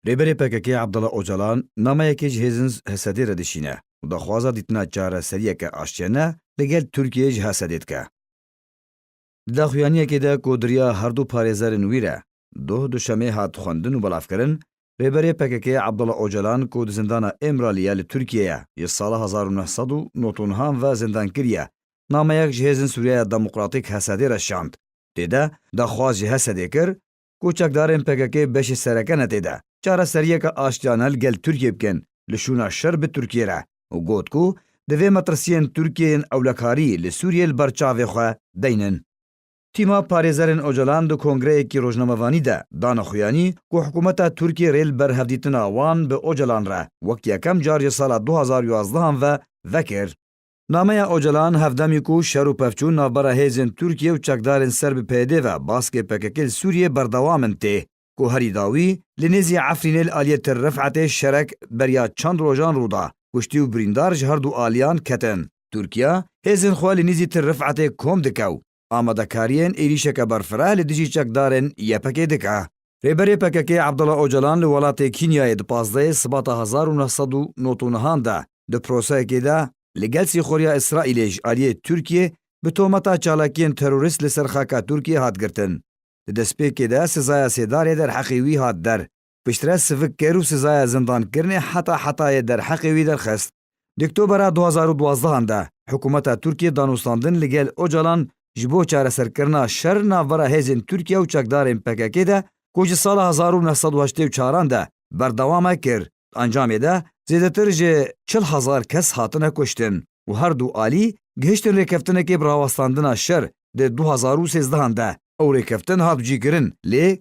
Rêberê PKK'ê Abdullah Ocalan nameyekê ji hêzin Hesedê re dişîne û daxwaza dîtina çareseriyeke aştiyane li gel Tirkiyeyê ji Hesedê dike. Di daxuyaniyekê de ku diriya herdu parêzerên wî re doh duşemê hat xwendin û belavkirin, Rêberê PKK'ê Abdullah Ocalan ku di zindana Îmraliye li Tirkiyeyê ji sala hezar û neh sed û nod û nihan ve zindankir ye, nameyek ji hêzin Sûriyaya Demokratîk Hesedê re şand. Tê de daxwaz ji Hesedê kir ku çekdarên pkk beşê sereke ne tê de, çareseriyeke aştiyane li gel Tirkiyê bikin li şûna şer bi Tirkiyê re û got ku divê metirsiyên Tirkiyê yên ewlekarî li Sûriyê li ber çavê xwe beynin. Tîma parêzerên Ocalan di kongreyekî rojnamevanî de dana xuyanî ku hikûmeta Tirkiyê rê li ber hevdîtina wan bi Ocalan re wek yekem car ji sala du hezar û yazdeh an ve vekir. Nameya Ocalan hevdemî ku şer û pevçûn navbera hêzên Tirkiye û çekdarên ser bi PYD ve baskê pkk li Sûriyê berdewam in tê ku herî dawî li nêzî Efrînê li aliyê Tir Rifetê şerek beriya çend rojan rû da kuştî û birîndar ji her du aliyan ketin. Tirkiye hêzên xwe li nîzî Tir Rifetê kom dike û amadekariyên êrîşeke berfireh li dijî çekdarên YPG'ê dike. Rêberê PKK'ê Abdullah Ocalan li welatê Kînyayê di pazdehê Sibata hezar û neh sed û nod û nihan de di proseyekê de li gel sîxuriya Îsraîlê ji aliyê Tirkiyê bi tometa çalakiyên terorîst li ser xaka Tirkiyê hat girtin. Di destpêkê de sizaya sêdarê derheqê wî hat der. piştre sivik kir û sizaya zindankirinê heta hetayê derheqê wî derxist. Di Oktobera du hezar û duwazdeh an de hikûmeta Tirkiyê danûstandin li gel Ocalan ji bo çareserkirina şer navbera hêzên Tirkiye û çekdarên pkk de ku ji sala hezar û neh sed û heştê û çar an de berdewam e kir. Di encamê de zêdetir ji çil hezar kes hatine kuştin û her du alî gihiştin rêkeftinekê bi rawestandina şer di du hezar û sêzdeh an de. Ew rêkeftin hat cîkirin lê